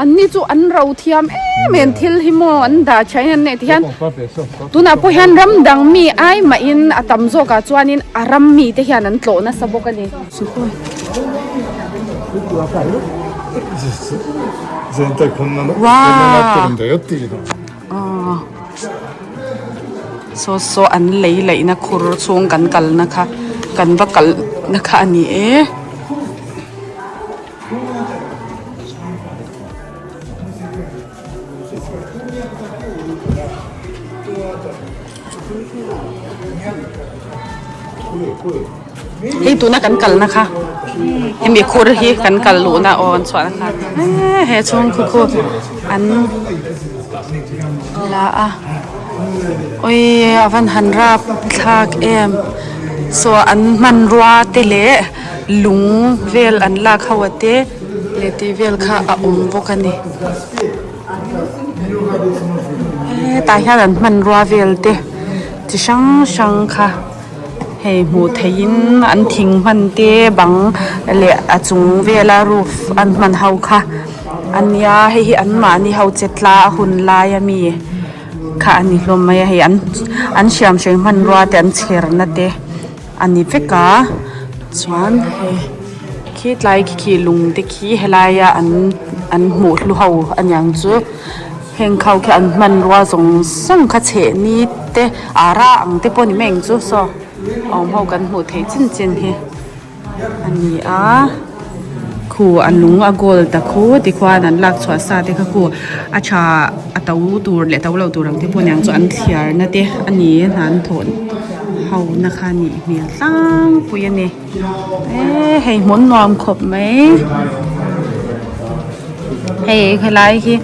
An ni chu an ro thiam em em, thil hi maw an dah tha hian nei ti hian. Tunah pawh hian ram dang mi ai mah in a tam zawk ah chuan in a ram mi te hian an tlawh nasa bawk a ni. Saw saw an lei laih na khur chhung kan kal na kha kan va kalh na kha a ni e. Hei tuna kan kal na kha he mikhur hi kan kal luh na aw an chhuah na kha he chhungkhu khu an la a awi a van han rap thlak em saw an hmanrua te leh-- lung vel an lak ho a te leh tih vel kha a awm bawk a ni hetah hian an hmanrua vel te chi hrang hrang kha hei hmuh theih in an thing hman te bang leh a chung vel a roof an hman ho kha a nia hei hi an mahni ho che tla a hun lai a mi kha a ni hlawm mai a hei an an siam hrei hmanrua te an chherna te. a ni vek a chuan he khi tlai khi khi lung te khi helai a an an hmuh hlu ho a niang chu heng kho khi an hmanrua zawng zawng kha chheh ni te ah ra ang te pawh ni meng chu saw awm ho kan hmuh theih chin chin hi a ni a. Khu a nung a goal ta kho tikhuan an lak chhuah sa te kha khu a tha a to tur leh to lo tur ang te pawh niang chu an thliar na te a ni e hnan thawn ho na kha a nih hmel tlangpui a ni eee hei hmun nuam khawp mai hei helai hi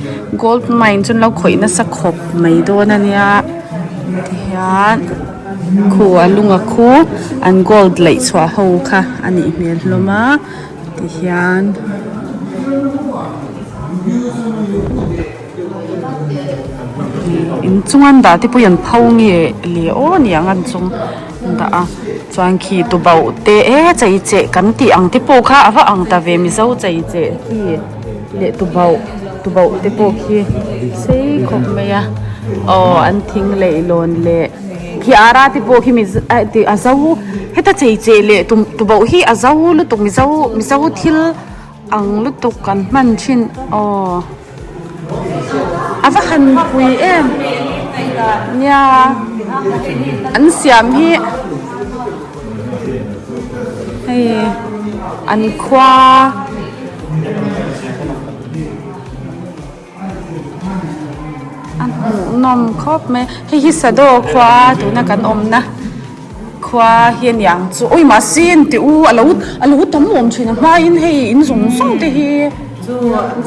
gold mine chu an lo khawih nasa khawp mai dawn a nia tihian. Khu a lunga khu an gold laih chhuah ho kha a nih hmel hlawm a, tihian in chung an dah te pawh i an pho nge le aw ni ang an chung dah a, chuan khi tu bauh te e chei che kan tih ang te pawh kha a va ang ta ve mizo chei che hi. leh tubauh tubauh te pawh khi sei khawp mai a aw an thing laih lawn leh phiar a te pawh khi mi a zo heta chei che leh tum tubauh hi a zo lutuk mizo mizo thil ang lutuk kan hman thin aw a va han pui em nia an siam hi. Hei an khua a hmuh nawm khawp mai hei hi sado khua a tuna kan awm na khua hi ani ang chu awi mahse ni tih u alo alo tam awm thin a hma in hei in zawng zawng te hi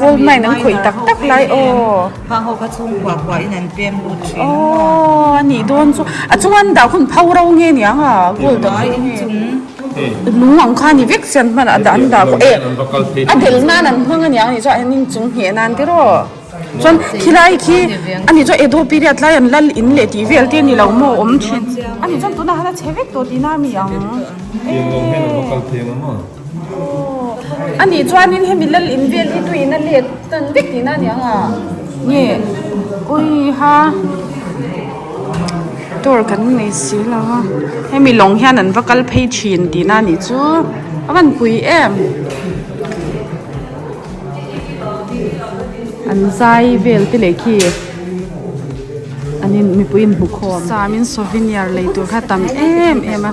gold mine an khawih tak tak lai aw. Hma ho kha chhung khuah khuah in an pem lut thin ang maw? Aww a nih dawn chu a chunga an dah khawn pho ro nge ni ang a gold a pho nge ni lung ang kha a ni vek chian hman ah dah an dah khawn eh a del nan an hmang a ni ang ni chu an inchung ngheh nan te rawh chuan khi lai khi a nih chu edo period lai an lal in leh tih vel te a ni lo maw awm thin a nih chuan tunah hian a che vek tawh tihna a mi ang ehh. A nih chuanin hemi lal invel hi tui ina let tan vek tihna a ni ang a, nge oiha tur kan nei si lo a, hemi lawng hian an va kal phei thin tihna a nih chu a van pui em, an zai vel te leh khi an in mipui in hmukhawm samin souvenir lei tur kha a tam em em a.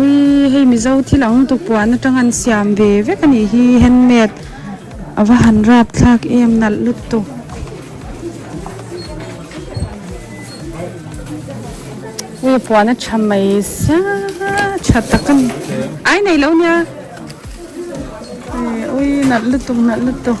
Ui hei mizo thil ang tukpuan atanga an siam ve vek anih hi handmade ava han rap thlak em nalh lut tu. Ui puan a tha mai sa tha tak ani ai nei lo nia ui nalh lutuk nalh lutuk.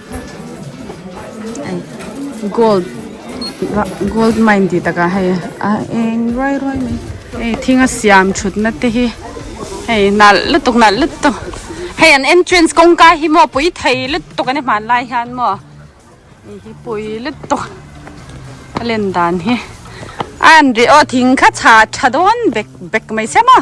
Gold gold mine tih takah hei a eng ruai ruai mai hei thinga siam thutna te hi hei nalh lutuk nalh lutuk hei an entrance kawngka hi maw pui thei lutuk a ni hman lai hian maw ih hi pui lutuk a len dan hi a an ri aw thing kha chha tha dawn bek bek mai se maw.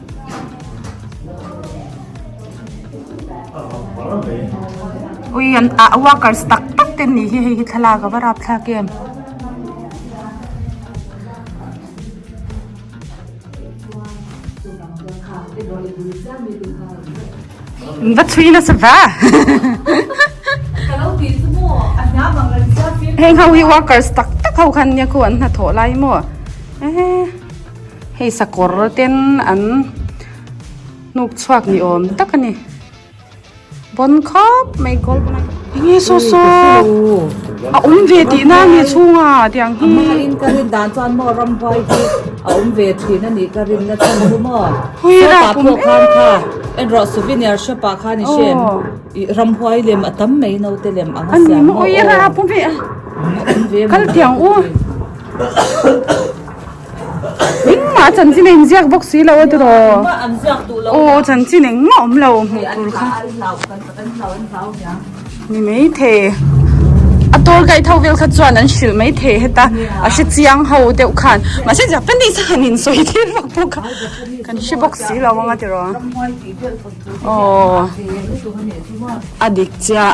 Ui an ah workers tak tak te ni hi hei hi thlalak a va rap thlak em. Min va chhui nasa va. Heng ho hi workers tak tak ho khan nia khu an hna thawh lai maw. Ehh. Hei sakawr ten an hnuk chhuak ni awm tak a ni. Bawn khawp mai gold rawng a ni. Enge saw saw a awm ve tihna a ni chhung a tiang hi. Amaherawh in ka rin dan chuan maw ramhuai hi a awm ve thin a nih ka rin na chhan chu maw. Hui rapum em. Shop ah pawh khan kha erawh souvenir shop ah khan i hriat ih ramhuai lem a tam mai no te lem anga siam maw aw. A ni maw ui a rapum e a awm ve a ni. Kal tiang u. Engmah a chanchin a inziak bawk si lo a tu raw. Aw chanchin engmah awm lo hmuh tur kha. Ni maithei. A tour guide ho vel kha chuan an hrilh maithei heta a hre chiang ho deuh khan. Mahse Japanese a han insawi tir vak bawk a. Kan hre bawk si lo ang a ti raw. Aw a dik chiah.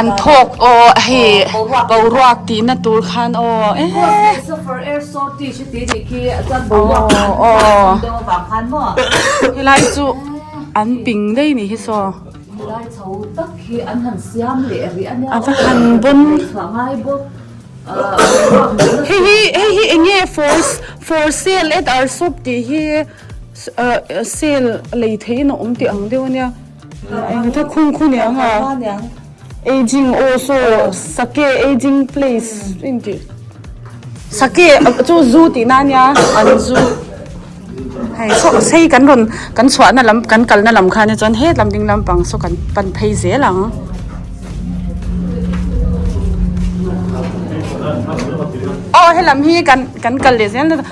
An thawk aw a hi boruak tihna tur khan aw helai chu an ping daih nih hi saw ava han bon hei hi hei hi eng nge for sale at our shop tih hi sale lei theih in a awm tih ang deuh ania. Engtha khun khaw niang a, Aging aw saw Sake Aging Place a intih. Sake chu zoo tih na nia an zoo hei saw sei kan rawn kan chhuahna lam kan kalna lam khania chuan he lam ding lam pang saw kan pan phei zel ang. Aw he lam hi kan kan kal leh zel nata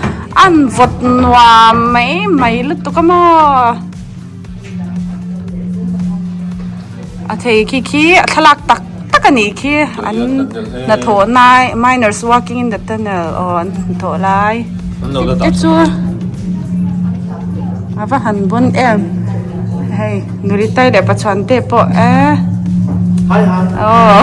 an vawt nuam mai mai lutuk a maw. A thei khi khi a thlalak tak tak a nih khi an hnathawh nai miners working in the tunnel aw an hnathawh lai te chu a va han bun em hei nuri tai leh pa chhuan te pawh eeh aw hahaha.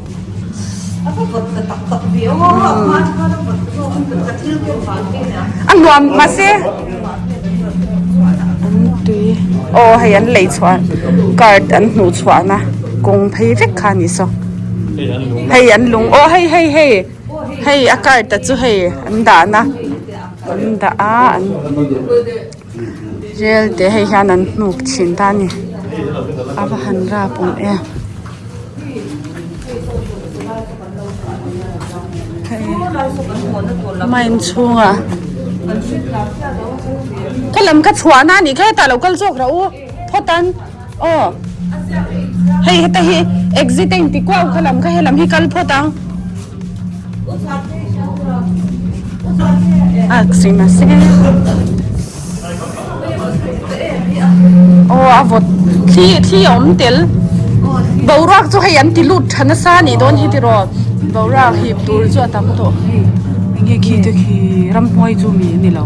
A nuam mahse aw hei an lei chhuah a card an hmuh chhuah na kawng phei vek kha ni saw hei an lung aw hei hei hei hei a card te chu hei an dah na an dah a an-- Rel te hei hian an hnuk chhin ta a ni a va han rap awm e hei mine chhungah ka lam ka chhuah na a ni kha hetah lo kal zawk rah u. Khaw tan, Aw, hei heta hi exit a inti kuah u kha lam kha helam hi kal phawt ang. Aw a vawt thli thli a awm tel. Boruak chu hei an ti lut tha nasa a nih dawn hi tiraw? Boruak hip tur chu a tam tawh. Enge khi te khi ramhnuai chu mi a ni lo.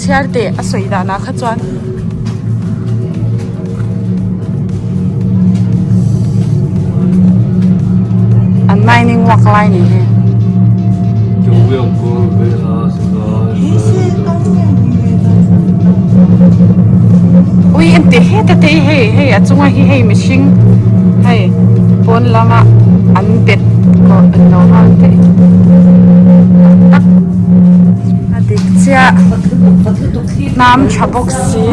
Chhiar teh a sawi danah kha chuan an mining uak lai ni hi. Ui em te he te te hei hei a chunga hi hei mihring hei pawn lama an bet tawh an lo hang teh tak tak. A dik chiah hnam tha bawk si.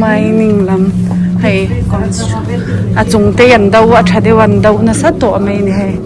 Mining lam hei a chungte yan do a tha deuh a an do nasa tawh mai a ni hei.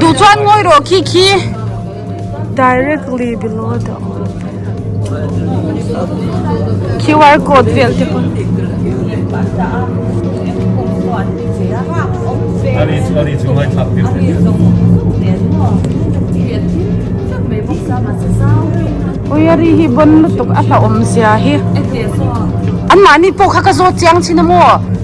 duh chuan ngawi rawh khi khi directly below the QR code vel te pawh Ari chu ari chu ngai thlak tir tir Oi ari hi bon lutuk a hlauhawm zia hi Anmahni pawh kha ka zawt chiang chhin a maw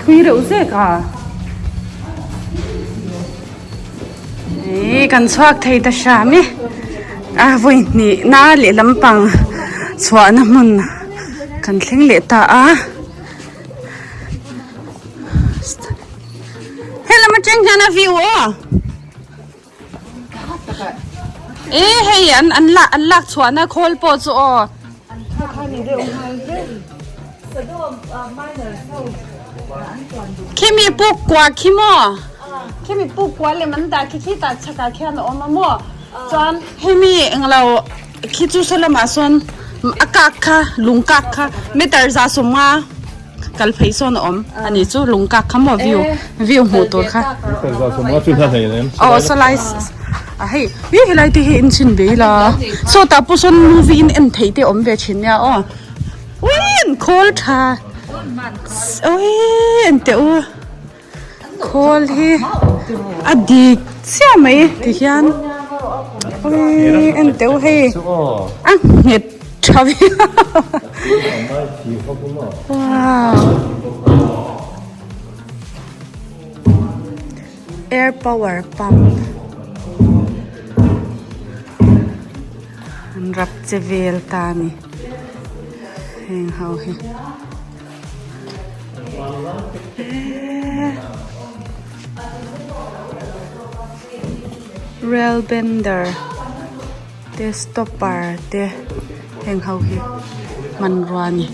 Thui reuh zek a. Ih kan chhuak thei ta hram i. A vawi hnih na leh lampang chhuahna hmun kan thleng leh ta a. He lam atang hian a view aw. E hei an an la an lak chhuah na khawl pawh chu aw khimi puk kua khi mo khimi puk kua lem an dah khi khi ta chhak ah khian a awm a mo chuan hemi englo Khi chu saw lamah sawn a kak kha, lung kak kha, meter za sawm nga kal phei sawn a awm a nih chu, lung kak kha maw view, view hmuh tur kha. Meter za sawm nga chu hla hlei reng. Aw saw lai a hei, ih helai te hi enchin ve ila, saw tah pawh sawn movie in en theih te awm ve thin nia aw. Ui an khawl tha, aw eng teh u. Khawl hi a dik chiah mai ti hian awii en deuh hei a nghet tha viau wow air power pump an rap che vel ta a ni heng ho hi. Rail bender te stopper te heng ho hi hmanrua a ni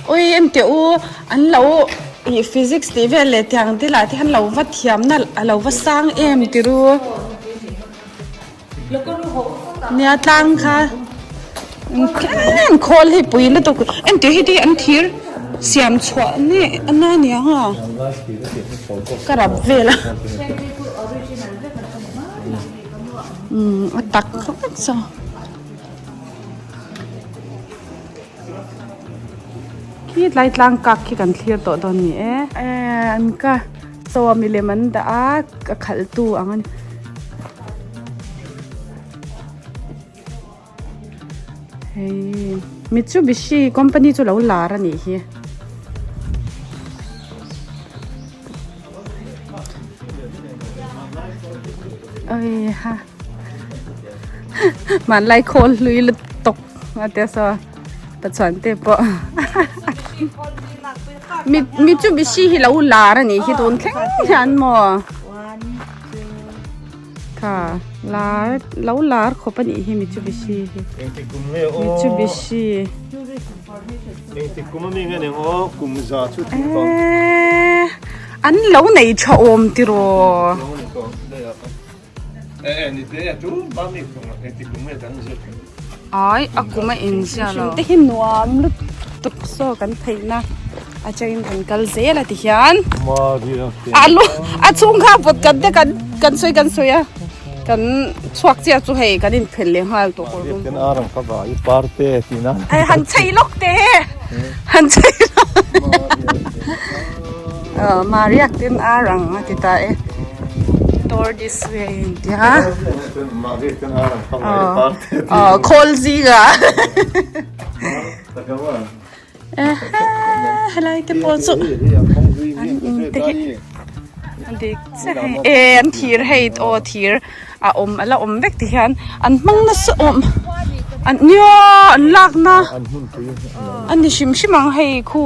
awi em teh u an lo ih physics tih vel leh tiang te lah te hian lo va thiamna a lo va sang em ti ru. Nia tlang kha engkhawng khawl hi pui lutuk engtih hi ti an thir siam chhuah neh a na nia ha ka rap vel a atak kha vek chu khi tlai tlang kak khi kan thlir tawh dawn ni e. Chaw a milem an dah a, a khalhtu ang a ni. Hei Mitsubishi company chu lo lar a nih hi. Aiha hmanlai khawl hlui lutuk a tia saw. Ka chuan te po. Mi mi chu bi si hi lo lar ani hi tun thleng hian mo. Ka lar lo lar kho pani hi mi chu bi si hi. Mi chu bi si. Mi ti kum mi nge ne ngo kum za chu ti ko. An lo nei tha om ti ro. Eh eh ni te atu ma mi kum a ti kum e kan zet. Ai a kum a in zia lo. Te hin nuam lut tuk so kan thei na. A che in kan kal ze la ti hian. Ma ri a. Alu a chung kha pot kan te kan kan soi kan soi a. Kan chuak che chu hei kan in phel le ngal to ko rum. Kan arang kha ba i par te ti na. Ai han chei lok te. Han chei. Ahh Mariak ten ar ang a ti ta e. Tour this way a in tia. Ahh khawl zing a. Ehhe helai te pawh chu an in te hi a dik che hei e. Ehh an thir hei aw thir a awm a la awm vek ti hian an hmang nasa awm an nia an lakna a ni hrim hrim ang hei khu.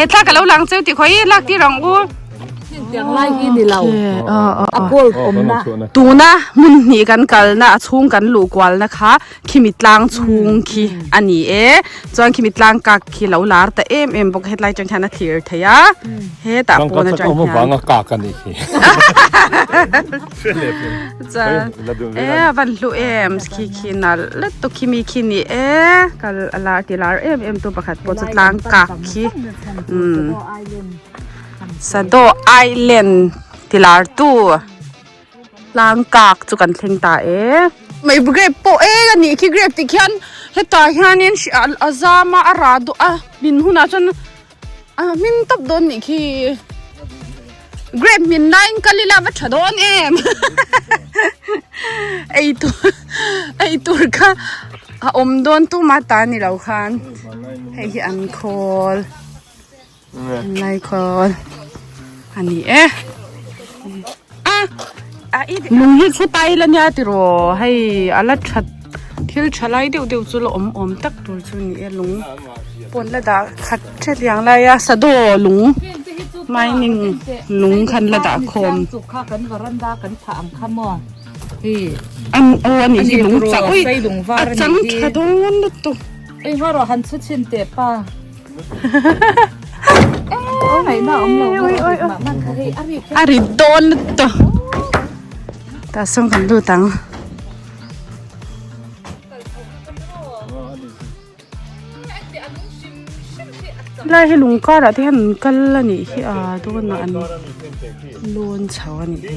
e thlak ka lo lang cheu ti khawi lak ti rang u tiang lai hi ni lo a kol pom na tuna mun hnih kan kal na a chung kan lu kwal na kha khimi tlang chung khi ani e chuan khimi tlang kak khi lo lar ta em em bawk hetlai chang khian a thlir thei a he ta pawna chang khian ka chak awm avanga kak ani khi cha e van hlu em khi khi nal let to khi mi khi ni e kal ala ti lar em em tu pakhat pawh chu tlang kak khi um sado island ti lar tu tlang kak chu kan thleng ta e mai grape pawh e ka nih khi grape tih khian hetah hianin a zam a a ra duah a min hunah chuan a hming tawp dawn nih khi grab hmin laiin kal ila va tha dawn em ei tur ei tur kha a awm dawn tuma ta ni lo khan hei hi an khawl an lai khawl a ni e Lung hi chhe tai la nia tiraw hei a la that thil tha lai deuh deuh chu la awm awm tak tur chu a ni e lung pawn la dah khat theliang lai a sado lung mining lung khan la dah khawm ang o a nih hi lung chah ui a chang tha dawn lutuk. a rit dawn lutuk ta tah sawn kan lut ang helai hi lung karah te hian an kal a nih hi a dawnah an lawn chho a nih hi.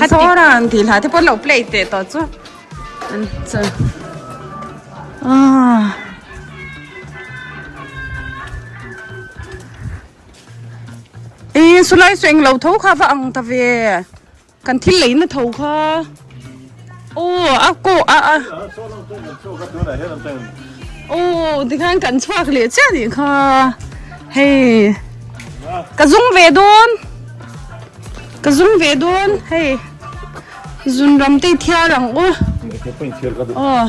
Khatiran tih hla te pawh an lo play teh tawh chu Sulai sawi englo tho kha va ang ta ve kan thil leina tho kha. Oh, a ko a a. Oh, tikhan kan chuak le che ni kha. Hey. Ka zum ve don. Ka zum ve don. Hey. Zun ram te thiar ang u. Oh.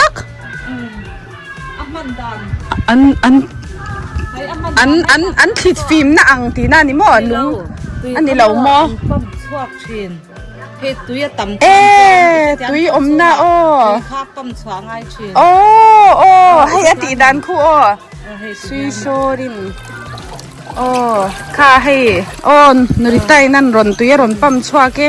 tak an an an an an thlit fim na ang ti na ni maw lung a ni lo maw an pump chhuak thin hei tui a tam thin eh tui awm na aw tui kha pump chhuah ngai thin aw aw hei a tih dan khu aw sui saw rin aw kha hei aw nu ritai nan rawn tui a rawn pump chhuak e.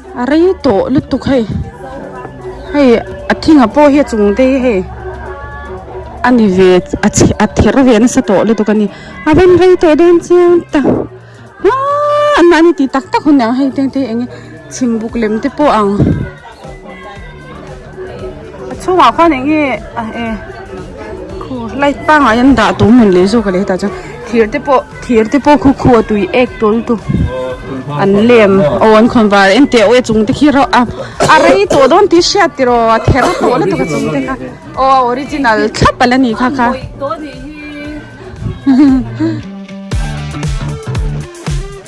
A rei tawh lutuk hei hei a thing a pawh hi a chung daih hei a ni ve a chhi a ther ve nasa tawh lutuk a ni a van rei tawh dawn chiang ta aa anmahni tih tak tak hun ang hei te te eng nge chhimbuk lem te pawh ang. A chhungah khuan eng nge a e khu light pangngai an dah tur nun leh zawk a leh tah chuan thir te pawh thir te pawh khu khu a tui ek tawl tu an lem aw an khawn var engti auh e chungte khi rauh a a rei tawh dawn tih hriat tiraw a ther tawh lutuk a chungte kha aw a original thlap a la ni kha kha